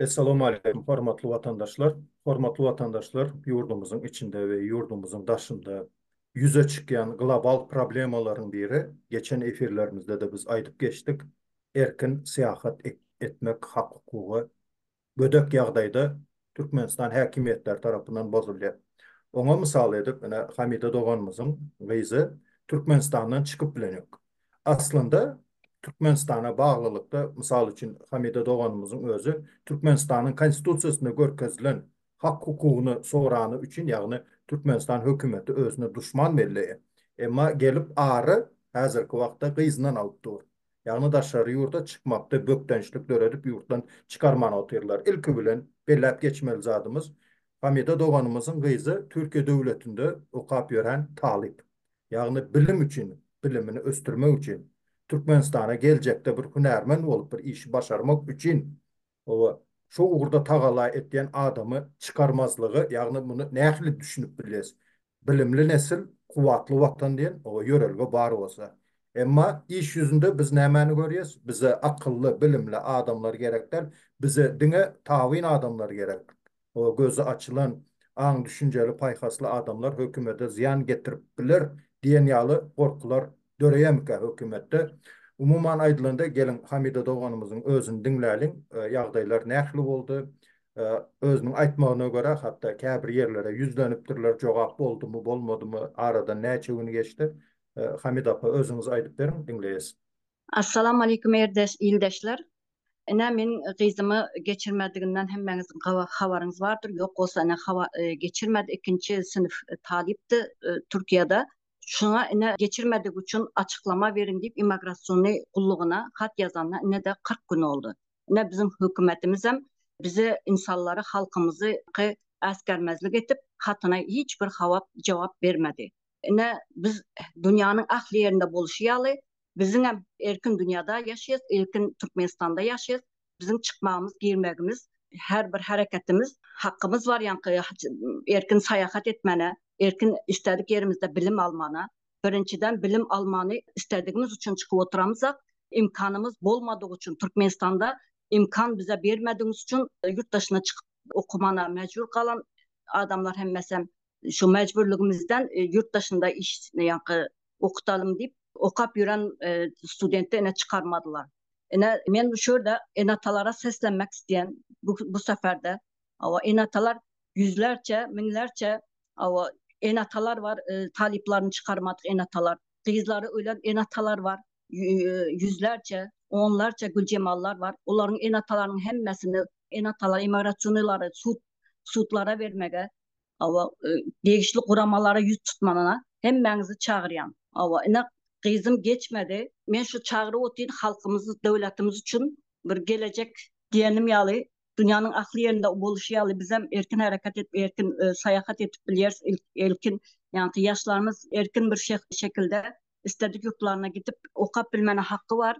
Essalamu aleýkum, hormatly watandaşlar! Hormatly watandaşlar, ýurdumyzyň içinde we ýurdumyzyň daşynda ýüze çykýan global problemalaryň biri, geçen efirlerimizde-de biz aýdyp geçdik, erkin syýahat etmek hak-hukugy gödek ýagdaýda Türkmenistan häkimiýetleri tarapyndan bozulýar. Oňa mysal edip, ine, Hamida doganymyzyň gyzy Türkmenistandan çykyp bilen ýok. Aslynda, Türkmenistana baglylykda, mysal üçin, Hamida doganymyzyň özi Türkmenistanyň Konstitusiýasynda görkezilen hak-hukugyny sorany üçin, ýagny Türkmenistan hökümeti özüne duşman belleýär. Emma gelip ary häzirki wagtda gyzyndan alyp dur. ýagny daşary ýurda çykmakda bökdençlik döredip ýurtdan çykarman otyrlar. Ilki bilen belläp geçmeli zadymyz, Hamida doganymyzyň gyzy Türkiýe döwletinde okap ýören talyp. Ýagny bilim üçin, bilimini ösdürmek üçin, Türkmenistana geljekde bir hünärmen bolup bir işi başarmak üçin Hawa, şu ugurda tagalla etýän adamy çykarmazlygy, ýagny muny nähili düşünip bilýäs? Bilimli nesil, kuwwatly Watan diýen ýörelge bar bolsa. Emma iş ýüzünde biz nämäni görýäs? Bize akylly, bilimli adamlar gerek däl, bize diňe tabyn adamlar gerek. we gözi açylan, aň-düşünjeli, paýhasly adamlar hökümete zyýan getirip biler diýen ýaly gorkular döreýärmikä hökümetde? Umuman aýdylanda, geliň, Hamida doganymyzyň özüni diňläliň, ýagdaýlar nähili boldy? Özüniň aýtmagyna görä, hatda käbir ýerlere ýüzlenipdirler, jogap boldumy, bolmadymy, aradan näçe gün geçdi? Hamida apa, özüňiz aýdyp beriň, diňleýäs. Assalamu Aleýkum Erdeş ildeşler. Ine men gyzymy geçirmediginden hemmäňiz habaryňyz bardyr ýok bolsa ine geçirmedi ikinji synf talypdy Türkiýede şuňa ine geçirmedigi üçin açyklama beriň diýip imograsiony gullugyna hat ýazanyna inede kyrk gün boldy ine biziň hökümetimizem bize insanlary halkymyzy äsgermezlik edip hatyna hiç bir hawap jogap bermedi Ine, biz dünýäniň ähli ýerinde bolşy ýaly, biziň hem erkin dünýäde ýaşaýarys, erkin Türkmenistanda ýaşaýarys. Biziň çykmagymyz, girmegimiz, her bir hereketimiz, hakymyz bar ýaňky erkin saýahat etmäne, erkin isledik ýerimizde bilim almana. Birinjiden, bilim almany isledigimiz üçin çykyp oturamyzak, imkanymyz bolmadygy üçin, Türkmenistanda imkan bize bermedigiňiz üçin ýurt daşyna çykyp okumana mejbur galan adamlar hemmesem. şu mejburlygymyzdan ýurt daşynda iş ýa-da okutalym diýip, okap ýören studenti ine çykarmadylar. Ine, men şu ýerde ene-atalara seslenmek isleýän bu seferde. Hawa, ene-atalar ýüzlerçe, müňlerçe, hawa, ene-atalar bar, talyplaryny çykarmadyk ene-atalar. Gyzlary ölen ene-atalar bar, ýüzlerçe, onlarça Güljemallar bar. Olaryň ene-atalarynyň hemmesini ene-ata emigrasiýonalary sud sudlara bermegi, Awa, e, degişli guramalara ýüz tutmanyna hemmäňizi çagyrýan. Awa, ine gyzym geçmedi. Men şu çagyryp otyryn halkymyzy, döwletimiz üçin bir gelejek diýenim ýaly dünýäniň ahli ýerinde boluşy ýaly bizem erkin hereket edip, erkin e, saýahat edip bilýäris. Erkin, ýagny ýaşlarymyz erkin bir şekilde istedik ýurtlaryna gidip okap bilmäne haky bar.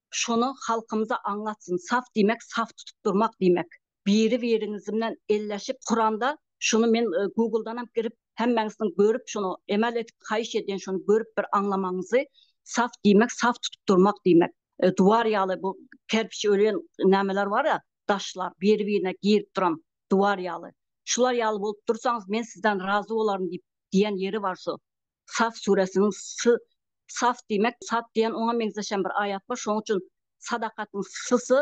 Şony halkymyza aňlatsyn saf diýmek saf tutup durmak diýmek. Biri biriňizimnen elleşip Kuranda şuny men Googledanam girip hemmäňizden görüp şuny emel edip haýyş edýän şuny görüp bir aňlamagyňyzy saf diýmek saf tutup durmak diýmek. Duwar ýaly bu kerpiç ölýän nämeler barýa daşlar biri birine girip duran duwar ýaly. Şular ýaly bolup dursaňyz men sizden razy bolaryn diýip diýen ýeri bar şu. Saf süresiniň sy, saf diýmek, sat diýen oňa meňzeşem bir aýat bar, şonuň üçin Sadakatyň sysy,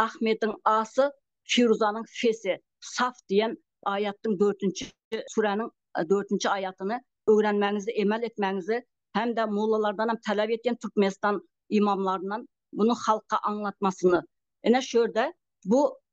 Ahmediň asy, Firuzanyň fesi, Saf diýen aýatdyň dördünji süräniň dördünji aýatyny öwrenmäňizi, emel etmäňizi hem-de mollalardanam talap etýän Türkmenistan imamlaryndan bunu halka aňlatmasyny. Ine şu ýerde bu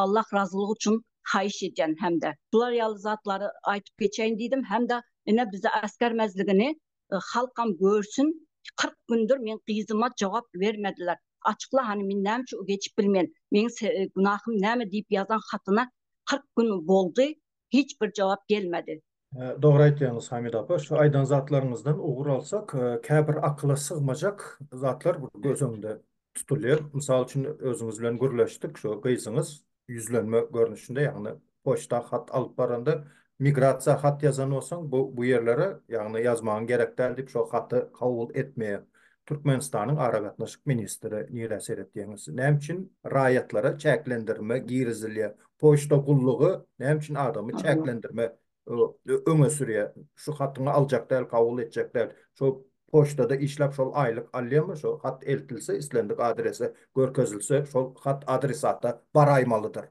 Allah razylygy üçin haýyş edýän hemde bular ýaly zatlary aýtyp geçeýin diýdim hemde ine bizi äsgermezligini halkam görsün kyrk gündir men gyzyma jogap bermediler açykla hany men näme üçin geçip bilmen meň günahym näme diýip ýazan hatyna kyrk gün boldy hiç bir jogap gelmedi. Dogry aýtýaňyz Hamida apa, şu aýdan zatlaryňyzdan ugur alsak, käbir akyla sygmajak zatlar göz öňünde tutulýar. Mysal üçin özüňiz bilen gürleşdik, şu gyzyňyz ýüzlenme görnüşinde, ýagny poçta hat alyp baranda, migrasiýa hat ýazan bolsaň, bu bu ýerlere, ýagny ýazmagyň gerek däl diýip, şo haty kabul etmeýär. Türkmenistanyň Aragatnaşyk ministri nirä seretýäňiz? Näme üçin raýatlara çäklendirme girizilýär? Poçta gullugy näme üçin adamy çäklendirme öňe sürýär? Şu hatyňy aljak däl, kabul etjek däl. Şo poçtada işläp şol aýlyk alýamy? Şo hat eltilse, islendik adrese görkezilse, şol hat adresata baraýmalydyr.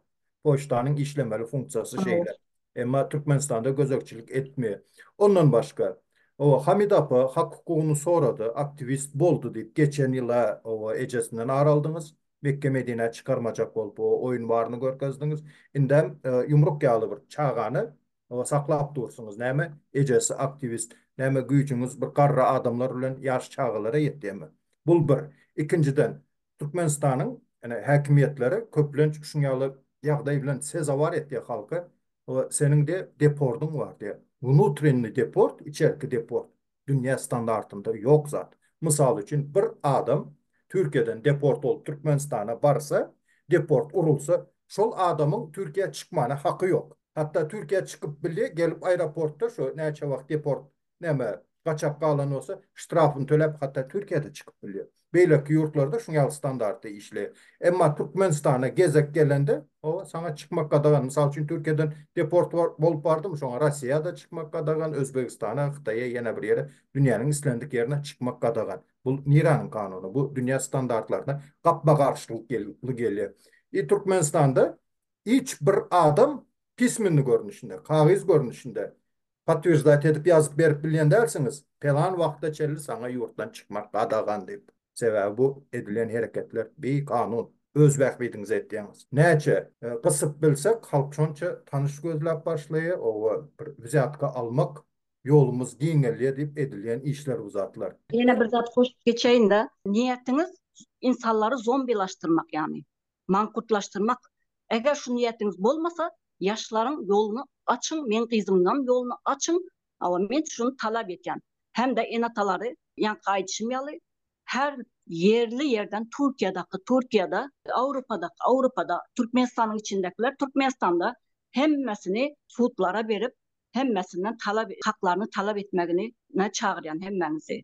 Poçtanyň işlemeli funksiýasy şeýle. Emma Türkmenistanda gözegçilik etmeýär. Ondan başga, oba, Hamida apa hak hukugyny sorady, aktiwist boldy diýip, geçen ýyl-a, oba, ejesinden ar aldyňyz, Mekge-Medinä çykarmajak bolup, oba, oýun baryny görkezdiňiz. Indem ýumruk ýaly bir çagany, oba, saklap dursuňyz. Näme, ejesi aktiwist, näme güýjüňiz bir garry adamlar bilen ýaş çagalara ýetýärmi? Bul bir. Ikinjiden, Türkmenistanyň ene häkimiýetleri köplenç şuň ýaly ýagdaý bilen sezawar etýä halky we seniň de depordyň bar diýä. Wnutrennýi deport, içerki deport, dünýä standartynda ýok zat. Mysal üçin bir adam Türkiýeden deport bolup Türkmenistana barsa, deport urulsa, şol adamyň Türkiýä çykmana haky ýok. Hatda Türkiýä çykyp bilýä, gelip aeroportda şo näçe wagt deport näme gaçak galan bolsa ştrafyny töläp hatda Türkiýede çykyp bilýär. Beýleki ýurtlarda şuň ýaly standartda işleýär. Emma Türkmenistana gezek gelende howa saňa çykmak gadagan. Mysal üçin Türkiýeden deport bolup bardymy şoňa Rossiýada çykmak gadagan, Özbegistana, Hytaýa ýene bir ýere dünýäniň islendik ýerine çykmak gadagan. Bu nireniň kanuny? Bu dünýä standartlaryna gapma garşylyk gelýär. I Türkmenistanda hiç bir adam pismenli görnüşinde, kagyz görnüşinde potwirzdate edip ýazyp berip bilýän dälsiňiz, pelan wagta çenli saňa ýurtdan çykmak gadagan diýip. Sebäbi bu edilen hereketler bi kanun. Öz bähbidiňize etýäňiz. Näçe gysyp bilsek halk şonça tanyş gözläp başlaýa, oba bir wzýatka almak ýolumyz giňelýä diýip edilýän işler bu zatlar. Ýene bir zat goşup geçeýin-de, niýetiňiz insanlary zombilaşdyrmak ýagny. Maňkutlaşdyrmak, eger şu niýetiňiz bolmasa, ýaşlaryň ýoluny açyň, meň gyzymyňam ýoluny açyň, hawa men şuny talap etýän. Hem-de ene-atalary, ýaňky aýdyşym ýaly, her ýerli ýerden Türkiýadaky Türkiýada, Awropadaky Awropada, Türkmenistanyň içindekiler Türkmenistanda hemmesini sudlara berip, hemmesinden talap haklaryny talap etmegini ne çagyrýan hemmäňizi.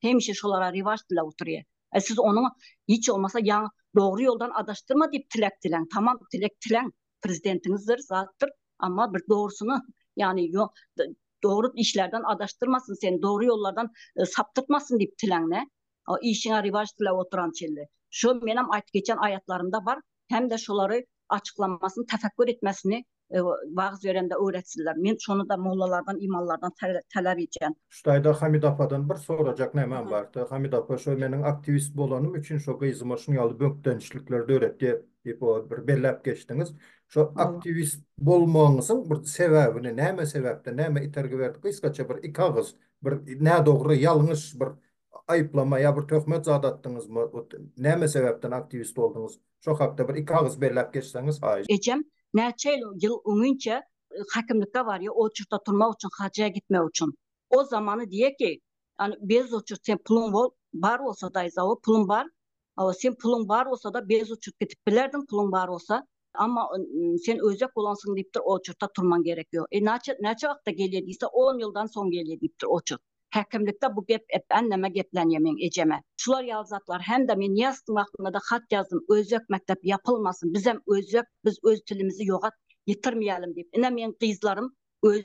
hemişe şolara rewaç diläp oturýa e siz onuň hiç bolmasa ýa dogry ýoldan adaşdyrma diýip tilek dileň tamam tilek tileň prezidentiňizdir zatdyr amma bir dogrusyny ýagny dogry işlerden adaşdyrmasyn seni dogry ýollardan e, saptyrtmasyn diýip tileňne işiňe rewaç diläp oturan çelle şu menem aýt geçen aýatlarymda bar hem-de şolary açyklamasyny tefekkür etmesini wagyz berende öwretsinler. Men şony-da mollalardan, imanlardan talap etýän. Şu taýda Hamid apadan bir sorajak nämem bardy. Hamid apa şo meniň aktiwist bolanym üçin şo gyzyma şuny ýaly bökdençlikler döretdi diýip o bir belläp geçdiňiz. Şo aktiwist bolmagyňyzyň bir sebäbini, näme sebäpden, näme itergi berdi? Gysgaça bir iki agyz, bir nädogry, ýalňyş bir aýyplama ýa bir töhmet zat atdyňyzmy? Näme sebäpden aktiwist bolduňyz? Şo hakda bir iki agyz belläp geçseňiz haýyş. Ejem näçe ýyl öňinçe hakimlikge barýa oçurta turmak üçin hajja gitmek üçin. O zamany diýe ki ýani bez oçurt sen puluň bol bar bolsa daýza o puluň bar. Sen puluň bar bolsada bez oçurt gidip bilerdiň puluň bar bolsa. Amma sen öýjek bolansyň diýipdir, oçurta turmaň gerek ýok. E naçe, näçe wagtda gelýär diýse, on ýyldan soň gelýär diýipdir oçurt. Häkimlikde bu gep ep änneme geplänýär meň ejeme. Şular ýaly zatlar hem-de men Nyýazowyň wagtynda-da hat ýazdym, öýjek mekdep ýapylmasyn, bizem öýjek, biz öz tilimizi ýogat ýitirmeýälim diýip. Ine meň gyzlarym öý.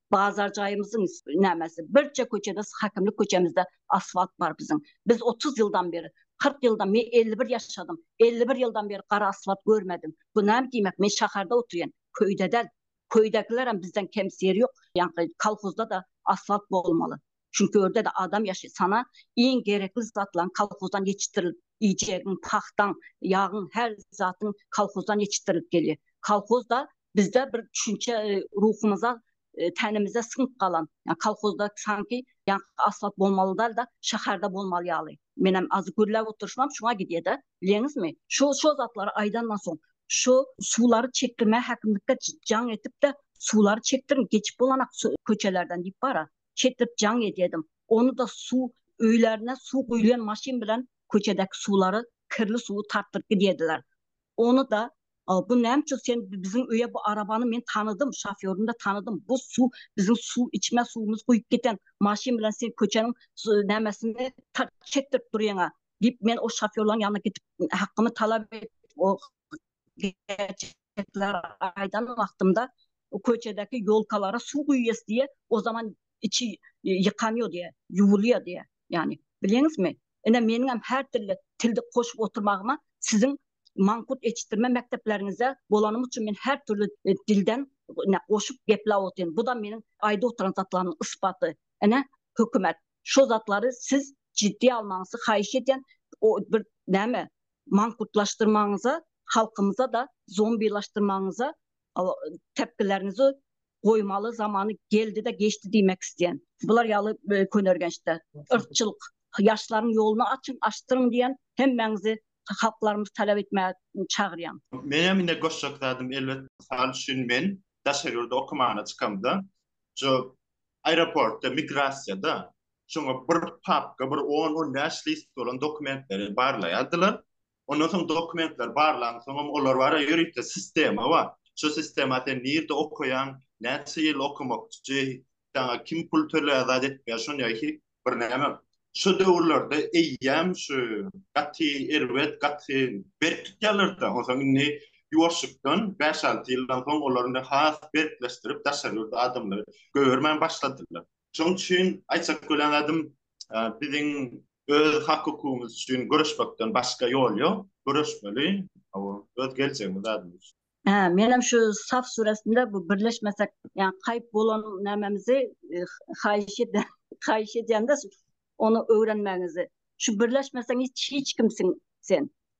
bazar jaýymyzyň nämesi birje köçede häkimlik köçemizde asfalt bar biziň biz otuz ýyldan beri kyrk ýyldan men elli bir ýaşadym elli bir ýyldan beri gara asfalt görmedim bu näme diýmek men şäherde oturýan köýde däl köýdäkilerem bizden kemsi ýeri ýok ýaňky kolhozda da asfalt bolmaly Çünki ýerde-de adam ýaşaýar. Sana iň gerekli zatlaryň kolhozdan ýetişdirilip, iýjegiň, pagtaň, ýagyň, her zadyň kolhozdan ýetişdirilip gelýär. Kolhoz-da bizde bir düşünçe ruhumyza, tenimize siňip galan. Ýa kolhozda sanki ýaňky asfalt bolmaly däl-de, şäherde bolmaly ýaly. Menem azdy gürläp oturyşymam şuňa gidýär-de, bilýäňizmi? Şo, şo zatlary aýdandan soň, şu suwlary çekdirmäge häkimlikde jaň edip-de, suwlary çekdiriň, geçip bolanak köçelerden diýip bara. çetlip jaň edýärdim. Ony-da suw öýlerine suw guýulýan maşyn bilen köçedäki suwlary, kirli suwy tartdyryp gidýärdiler. Ony-da Bu näme üçin sen biziň öýe bu arabany men tanadym, şofýoryny-da tanadym. Bu suw biziň suw içme suwumyzy guýup giden maşyn bilen sen köçäniň nämesini çekdirip durýaň-a? diýip men o şofýorlaryň ýanyna gidip hakgymy talap edip gerçekleri aýdan wagtymda köçedäki ýolkalara suw guýýas diýýär, o zaman içi ýykanýar diýýär, ýuwulýar diýýär. Ýagny, bilýäňizmi? Ine, meniňem her dille tilde goşup oturmagyma siziň mangut eçitdirme mekdepleriňizde bolanym üçin men her dürli dilden goşup gepläp otyryn. Bu-da meniň aýdyp oturan zatlarymyň ysbaty. Ine, hökümet, şo zatlary siz jiddiýe almagyňyzy haýyş edýän. O bir näme, mankutlaşdyrmagyňyza, halkymyza-da zombilaşdyrmagyňyza tepgileriňizi goýmaly zamany geldi-de geçdi diýmek isleýän. Bular ýaly könergençde yrkçylyk ýaşlaryň ýoluny açyň, açdyryň diýen hemmäňizi halklarymyzy talap etmäge çagyrýan. Menem ine goşjak zadym elbet mysal üçin men daşary ýurda okamana çykamda şu aeroportda migrasiýada şoňa bir papka, bir on-on bäş list bolan dokumentleri barlaýardylar. Ondan soň dokumentler barlan soňam olar bara ýörite sistema bar. Şu sistema sen nirde okaýaň, näçe ýyl okamakçy, saňa kim pul töleýär, zat etmeýär, şony ýa-ki bir näme. Şu döwürlerde eýýäm şu gaty erbet, gaty berk tutýarlar-da, ondan soň indi ýuwaşlykdan bäş-alty ýyldan soň olar indi has berkleşdirip, daşary ýurtly adamlary goýbermän başladylar. Şoň üçin aýtjak bolan zadym, biziň öz hak-hukugymyz üçin göreşmekden başga ýol ýok. Göreşmeli, hawa, öz geljegimiz adyndan. Hä, menem şu Saf süresinde bu birleşmesek, ýa kaýyp bolan nämemizi haýyş edýän, haýyş edýän-de, ony öwrenmäňizi. Şu birleşmeseň hiç, hiç kimsiň sen.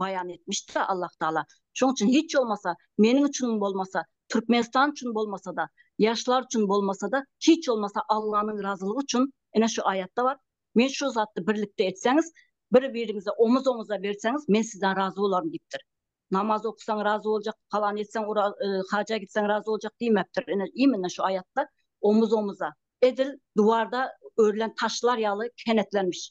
baýan etmişdir Allah Taala. Şoň üçin hiç bolmasa meniň üçin bolmasa, Türkmenistan üçin bolmasa-da, ýaşlar üçin bolmasa-da, hiç bolmasa Allanyň razylygy üçin, ine şu aýatda bar, men şu zatda birlikde etseňiz, bir-biriňize omuz-omuza berseňiz, men sizden razy bolaryn diýipdir. Namaz okusaň razy boljak, falan etseň, haja gitseň razy boljak diýmepdir. Ine, immine şu aýatda omuz-omuza, edil duwarda örülen taşlar ýaly kenetlenmiş.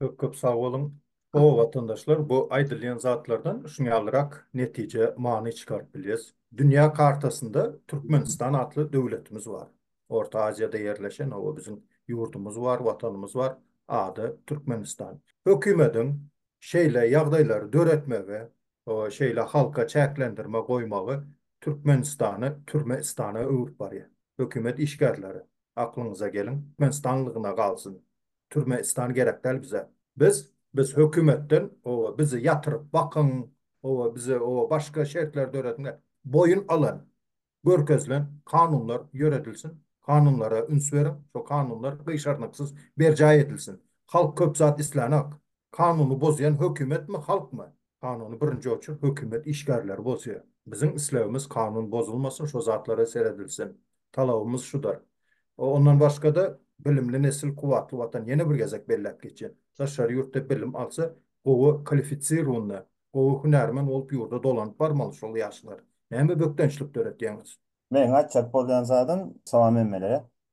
Köp köp sag boluň. O watandaşlar bu aýdylýan zatlardan şuny ýalyrak netije many çykaryp bilýäs. Dünýä kartasynda Türkmenistan atly döwletimiz bar. Orta Aziýada ýerleşen oba biziň ýurdumyz bar, watanymyz bar. Ady Türkmenistan. Hökümediň şeýle ýagdaýlary döretmegi, şeýle halka çäklendirme goýmagy Türkmenistany türme istana öwürip barýar. Hökümet işgärleri aklyňyza geliň. Menstanlygyna galsyn. Türme istan gerek däl bize. Biz biz hökümetden oba bizi ýatyryp bakyň oba bize oba başga şertler dörediň et boýun alan görkezilen kanunlar ýöredilsin kanunlara üns beriň şo kanunlar gyşarnyksyz berjaý edilsin halk köp zat islänok kanuny bozýan hökümetmi halkmy Kanuny birinji oçur hökümet işgärleri bozýar. Biziň islegimiz kanun bozulmasyn şo zatlara seredilsin. Talabymyz şudur. Ondan başgada bilimli nesil kuwwatly watan ýene bir gezek belläp geçýän. Daşary ýurtda bilim alsa gowy kalifisirunny, gowy hünärmen bolup ýurda dolanyp barmaly şol ýaşlar. Näme bökdençlik döretýäňiz. Meň aýtjak bolýan zadym Sawam emmelere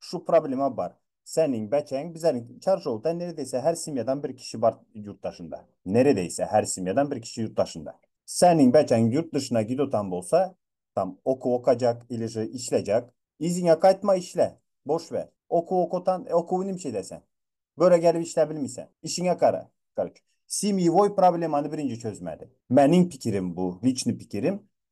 şu problema bar. Seniň bäçeň bizeniň çarşowda neredeýse her semýadan bir kişi bar ýurt daşynda. Neredeýse her semýadan bir kişi ýurt daşynda. Seniň bäçeň ýurt dyşyna gidotan bolsa, tam okuw okajak ilije işlejek. Yzyňa gaýtma işle, boş ber. Okuw okatan, okuwy nimçe eder sen? Göre gelip işläp bilmisen. Işiňe gara. Karoç. Semýewoý problemany birinji çözmäli. Meniň pikirim bu, liçny pikirim.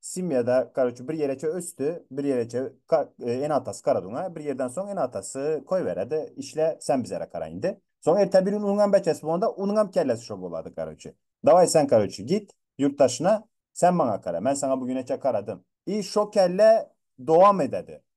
Simyada karoçe bir ýereçe ösdi, bir ýereçe ene atasy karadyňa, bir ýerden soň ene atasy koýberedi, işle sen bizere kara indi. Soň erte bir gün unuňam beçesi bolanda unuňam kellesi şo bolady karoçe. Daway sen karoçe git ýurt daşyna sen maňa kara, men saňa bu güneçe karadym. I şo kelle dowam ededi.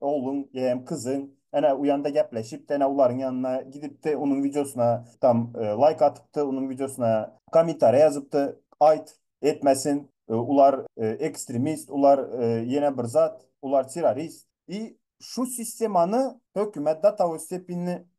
Ogluň ýem kyzyň ene uýanda gepleşipdi ene ularyň ýanyna gidipdi unuň wideosyna tam laýk atypdy unuň wideosyna komentariýa ýazypdy aýt etmesin ular ekstremist ular ýene bir zat ular terrorist i şu sistemany hökümet datawestepinli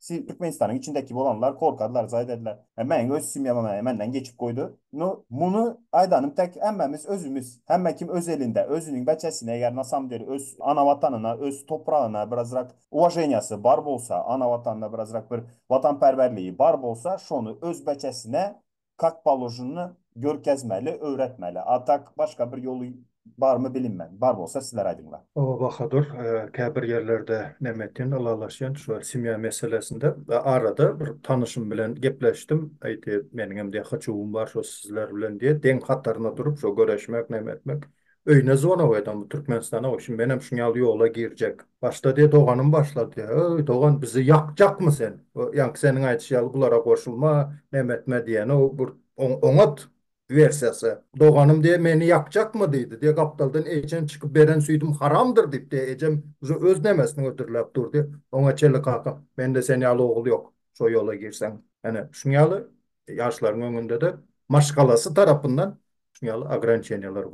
Şu Türkmenistanyň içindeki bolanlar korkarlar, zaý ederler. E, meň öz semýam e, menden geçip goýdy. Nu, muny aýdanym tek, hemmämiz özümiz, hemme kim öz elinde, özüniň beçesine eger na samom deli öz ana watanyna, öz topragyna birazrak uwaženiýasy bar bolsa, ana watanyna birazrak bir watanperwerligi bar bolsa, şony öz beçesine kak položnny görkezmeli öwretmeli a tak başga bir ýoly barmy bilinmez bar bolsa sizler aýdyňla. Awa Bahadur kä bir ýerlerde näme etýän ylalaşýan şu semýa meselesinde arada bir tanyşym bilen gepleşdim aýtdy meniňem diýýär hyjuwym bar şu sizler bilen diýýär deň hataryna durup şu göreşmek näme etmek Öýüne zwonow edem bu Türkmenistana goý şim menem şuň ýaly ýola girjek. Başda diýe doganym başla diýe öý dogan bizi ýakjakmy sen ýaňky seniň aýdyş ýaly bulara goşulma näme etme diýenow burt oň oňat wersiýasy. Doganym diýe meni ýakjakmy diýdi diýe gapdaldan ejen çykyp beren süýdüm haramdyr diýip diýe ejem uza öz nemesini hödürläp dur diýe oňa çelekaka mende sen ýaly ogul ýok şo ýola girseň ene şuň ýaly ýaşlaryň öňünde-de maşgalasy tarapyndan şu ýaly ograniçeniýalar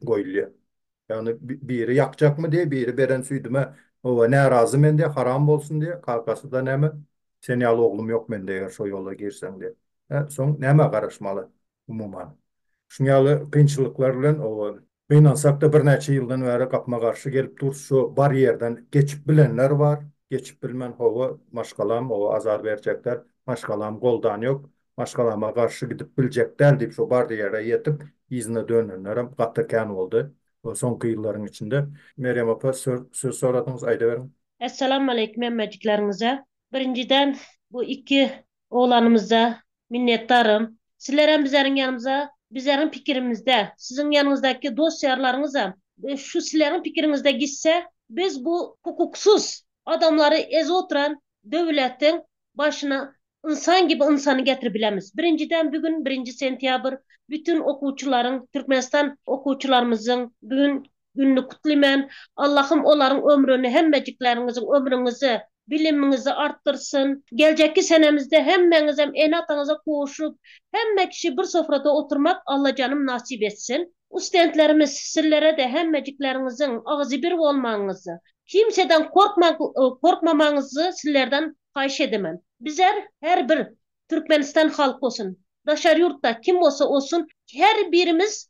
goýulýar. Ýagny biri ýakjakmy diýýär, biri beren süýdüme oba närazy men diýýär, haram bolsun diýýär, kakasy-da näme, sen ýaly oglum ýok mende eger şo ýola girseň diýýär. Hä, soň nämä garaşmaly umuman? Şuň ýaly kynçylyklar bilen oba Gynansakda birnäçe ýyldan bäri gapma-garşy gelip dur şu bar ýerden geçip bilenler bar geçip bilmän hawa maşgalam oa azar berjek däl maşgalam goldan ýok maşgalama garşy gidip biljek däl diýip şu bardy ýere ýetip yzyna dönenlerem gaty kän boldy soňky ýyllaryň içinde Merýem opa söz soradyňyz aýdyberiň. Essalamualeýkum hemmejikleriňize. Birinjiden bu iki oglanymyzda Minnetdarym. Sizlerem bizeriň ýanymyza, bizeriň pikirimizde, siziň ýanyňyzdaki dost-ýarlaryňyzam şu sizleriň pikiriňizde gitse, biz bu hukuksyz adamlary ez oturan döwletiň başyna ynsan gibi ynsany getirip bilemiz. Birinjiden bu gün birinji sentýabr, bütin okuwçylaryň, Türkmenistan okuwçylarymyzyň bu gün Gününi kutlymen. Allahym olaryň ömrüni hemmejiklerňiziň ömrüňizi, bilimiňizi artdyrsyn. Geljekki senemizde hemmeňizem ene ataňyza kowuşup, hemme kişi bir sofrada oturmak Allajanym nasip etsin. Ustentlerimiz sizlerede hemmejiklerňiziň agzybir bolmagyňyzy, kimseden korkmamagyňyzy sizlerden haýyş edemen. Bizler her bir Türkmenistan halky olsun, daşary ýurtda kim bolsa olsun her birimiz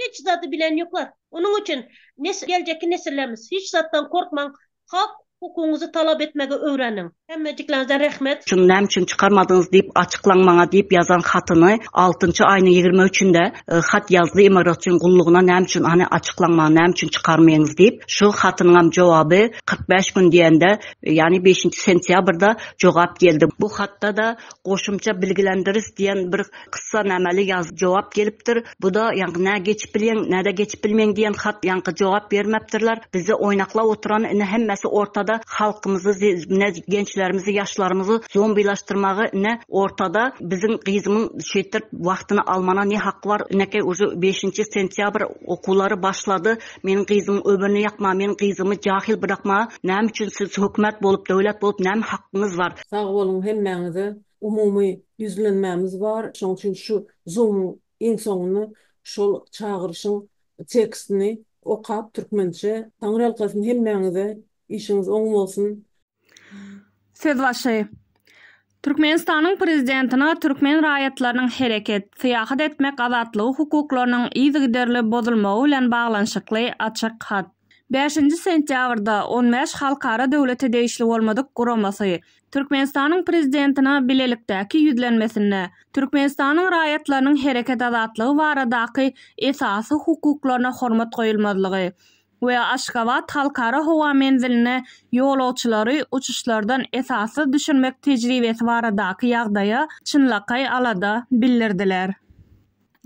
Hiç zady bilen ýoklar. Onuň üçin nesil geljekki nesillerimiz hiç zatdan gorkmaň hak hukugyňyzy talap etmegi öwreniň. Hemmejikleriňize rehmet. Şuny näme üçin çykarmadyňyz diýip açyklaň maňa diýip ýazan hatyny altynjy aýynyň ýigrimi üçinde hat ýazdy imaratçyň gullugyna näme üçin hany açyklaň maňa näme üçin çykarmyňyz diýip şu hatynyňam jogaby kyrk bäş gün diýende ýany beşinji sentýabrda jogap geldi bu hatda-da Goşumça bilgilendiris diýen bir kyssa nameli ýaz jogap gelipdir. Bu-da ýaňky nä geçip bilýäň, nä-de geçip bilmeýň diýen hat ýaňky jogap bermepdirler. Bizi oýnaklap oturan ine hemmesi ortada halkymyzy zi ne gençlerimizi ýaşlarymyzy zombilaşdyrmagy ine ortada biziň gyzymyň şeýtdirip wagtyny almana ne haky bar inekeý uje beşinji sentýabr okuwlary başlady meniň gyzymyň ömrüni ýakmaga meniň gyzymy jahyl brakmaga näme üçin siz hökümet bolup döwlet bolup näme hakyňyz bar Sag boluň hemmäňize umumy ýüzlenmämiz bar şoň üçin şu zumyň iň soňunda şol çagyryşyň tekstini okap türkmençe Taňryýalkasyn hemmäňize işiňiz oň bolsun. Söz başy. Türkmenistanyň Prezidentine türkmen raýatlarynyň hereket, syýahat etmek azatlygy hukuklarynyň yzygiderli bozulmagy bilen baglanyşykly açyk hat. Bäşinji sentýabrda on bäş halkara döwlete degişli bolmadyk guramasy Türkmenistanyň Prezidentine bilelikdäki ýüzlenmesinde Türkmenistanyň raýatlarynyň hereket azatlygy baradaky esasy hukuklaryna hormat goýulmazlygy we Aşgabat Halkara howa menziline ýolagçylary uçuşlardan esassyz düşürmek tejribesi baradaky ýagdaýa çynlakaý alada bildirdiler.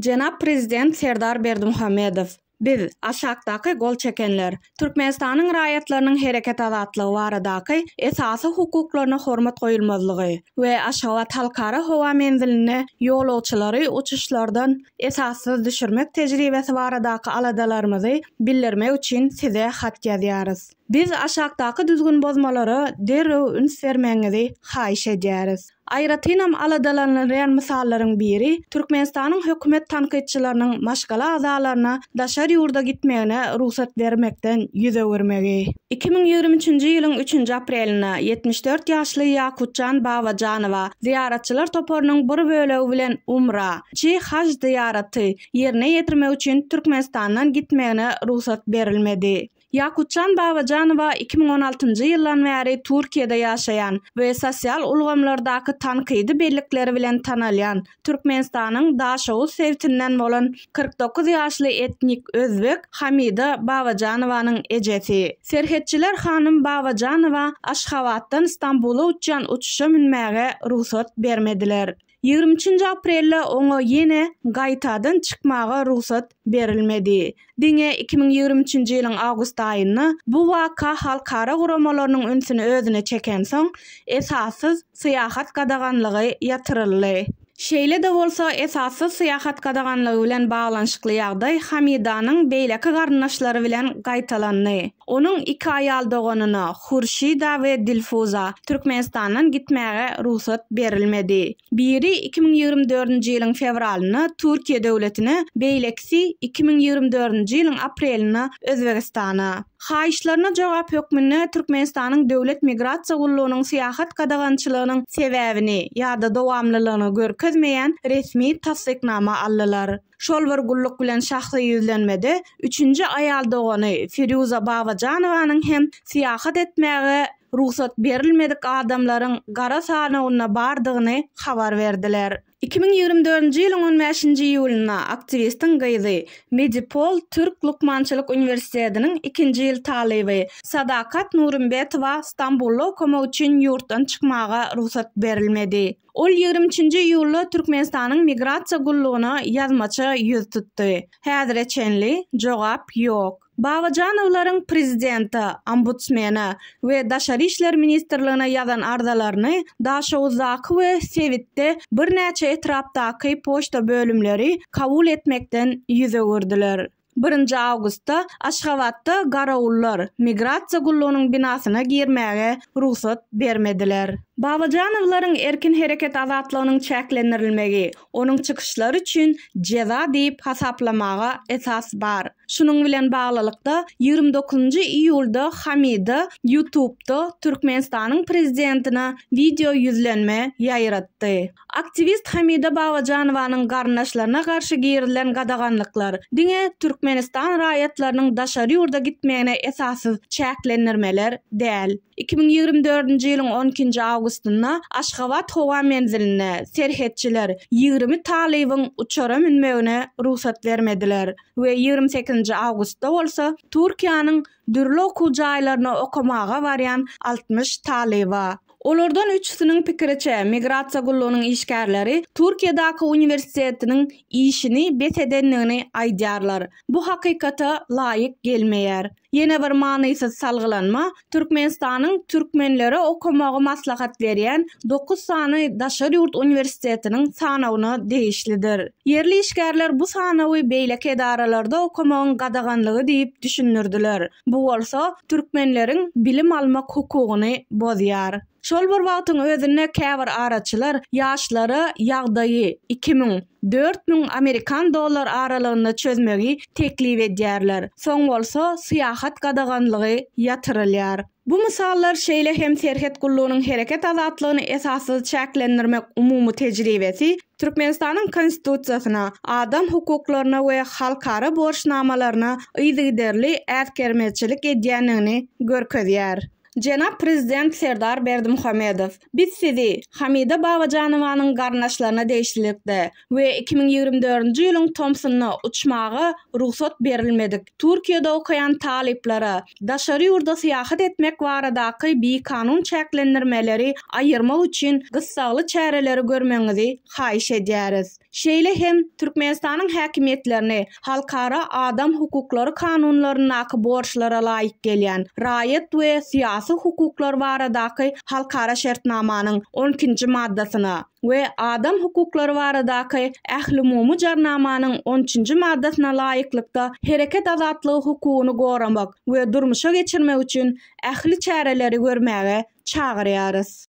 Jenap Prezident Serdar Berdimuhamedow. Biz, aşakdaky gol çekenler, Türkmenistanyň raýatlarynyň hereket azatlygy baradaky esasy hukuklaryna hormat goýulmazlygy we Aşgabat Halkara howa menzilinde ýolagçylary uçuşlardan esassyz düşürmek tejribesi baradaky aladalarymyzy bildirmek üçin Size hat ýazýarys. Biz aşakdaky düzgünbozmalara derrew üns bermegiňizi haýyş edýäris. Aýratynam aladalanylýan mysallaryň biri Türkmenistanyň hökümet tankytçylarynyň maşgala agzalaryna daşary ýurda gitmegine rugsat bermekden ýüz öwürmegi. Iki müň ýigrimi üçünji ýylyň üçünji aprelinde ýetmiş dört ýaşly Ýakutjan Babajanowa zyýaratçylar toparynyň bir bölegi bilen umra, çi haj zyýaraty, ýerine ýetirmek üçin Türkmenistandan gitmegine rugsat berilmedi. Ýakutjan Babajanowa iki müň on altynjy ýyldan bäri Türkiýede ýaşaýan we sosial ulgamlardaky tankydy bellikleri bilen tanalýan, Türkmenistanyň Daşoguz sebtinden bolan kyrk dokuz ýaşly etnik özbek Hamida Babajanowanyň ejesi. Serhetçiler hanym Babajanowa Aşgabatdan Stambula uçýan uçuşa münmäge rugsat bermediler. Ýigrimi üçünji aprelde oňa ýene gaýtadan çykmaga rugsat berilmedi. Diňe iki müň ýigrimi üçünji ýylyň awgust aýynda bu waka halkara guramalarynyň ünsüni özüne çekensoň, esassyz syýahat gadaganlygy ýatyryldy. Şeýle-de bolsa, esassyz syýahat gadaganlygy bilen baglanyşykly ýagdaý Hamidanyň beýleki garyndaşlary bilen gaýtalandy. Onuň iki aýal doganyna, Hurşida we Dilfuza, Türkmenistandan gitmäge rugsat berilmedi. Biri iki müň ýigrimi dördünji ýylyň fewralynda Türkiýe döwletine, beýlekisi iki müň ýigrimi dördünji ýylyň aprelinde Özbegistana. Haýyşlaryna jogap hökmünde Türkmenistanyň Döwlet migrasiýa gullugynyň syýahat gadagançylygynyň sebäbini ýa-da dowamlylygyny görkezmeýän resmi tassyknama aldylar. Şol bir gulluk bilen şahsy ýüzlenmede üçünji aýal dogany Firýuza Babajanowanyň hem syýahat etmäge rugsat berilmedik adamlaryň gara sanawynda bardygyny habar berdiler. Iki müň ýigrimi dördünji ýylyň on bäşinji iýulynda aktiwistiň gyzy, Medipol türk lukmançylyk uniwersitetiniň ikinji ýyl talyby Sadakat Nurumbetowa Stambulda okamak üçin ýurtdan çykmaga rugsat berilmedi. Ol ýigrimi üçünji iýulda Türkmenistanyň Migrasiýa gullugyna ýazmaça ýüz tutdy. Häzire çenli jogap ýok. Babajanowlaryň prezidente, ombudsmene we Daşary işler ministrligine ýazan arzalaryny Daşoguzdaky we sebitde birnäçe etrapdaky poçta bölümleri kabul etmekden ýüz öwürdiler. Birinji awgustda Aşgabatda garawullar Migrasiýa gullugynyň binasyna girmäge rugsat bermediler. Babajanowlaryň erkin hereket azatlygynyň çäklendirilmegi onuň çykyşlary üçin jeza diýip hasaplamaga esas bar. Şunuň bilen baglylykda, ýigrimi dokuzynjy iýulda Hamida Ýutubda Türkmenistanyň prezidentine wideoýüzlenme ýaýratdy. Aktiwist Hamida Babajanowanyň garyndaşlaryna garşy girizilen gadaganlyklar, diňe Türkmenistan raýatlarynyň daşary ýurda gitmegine esassyz çäklendirmeler däl. Iki müň ýigrimi dördünji ýylyň on ikinji awgustynda Aşgabat howa menzilinde serhetçiler ýigrimi talybyň uçara münmegine rugsat bermediler we ýigrimi sekizinji awgustda bolsa Türkiýäniň dürli okuw jaýlaryna okamaga barýan altmyş talyba. Olardan üçüsiniň pikiriçe, migrasiýa gullugynyň işgärleri Türkiýedäki uniwersitetiniň işini bes edendigini aýdýarlar. Bu hakykata laýyk gelmeýär. Ýene bir manysyz salgylanma, Türkmenistanyň türkmenlere okamagy maslahat berýän dokuz sany daşary ýurt uniwersitetiniň sanawyna degişlidir. Ýerli işgärler bu sanawy beýleki edaralarda okamagyň gadaganlygy diýip düşündirdiler, bu bolsa türkmenleriň bilim almak hukugyny bozýar. Şol bir wagtyň özünde käbir araçylar ýaşlara ýagdaýy iki müň, dört müň amerikan dollar aralygynda çözmegi teklip edýärler, soň bolsa syýahat gadaganlygy ýatyrylýar. Bu mysallar şeýle hem serhet gullugynyň hereket azatlygyny esassyz çäklendirmek umumy tejribesi Türkmenistanyň Konstitusiýasyna, adam hukuklaryna we halkara borçnamalaryna yzygiderli äsgermezçilik edýändigini görkezýär. Jenap Prezident Serdar Berdimuhamedow, Biz sizi, Hamida Babajanowanyň garyndaşlaryna degişlilikde, we iki müň ýigrimi dördünji ýylyň tomsunda uçmaga rugsat berilmedik Türkiýede okaýan talyplara daşary ýurda syýahat etmek baradaky bikanun çäklendirmeleri aýyrmak üçin gyssagly çäreleri görmegiňizi haýyş edýäris. Şeýle hem Türkmenistanyň häkimiýetlerini halkara adam hukuklary kanunlaryndaky borçlara laýyk gelýän Raýat we syýasy hukuklar baradaky halkara şertnamanyň on ikinji maddasyna, we Adam hukuklary baradaky Ählumumy Jarnamanyň on üçünji maddasyna laýyklykda hereket azatlygy hukugyny goramak we durmuşa geçirmek üçin ähli çäreleri görmäge çagyrýarys.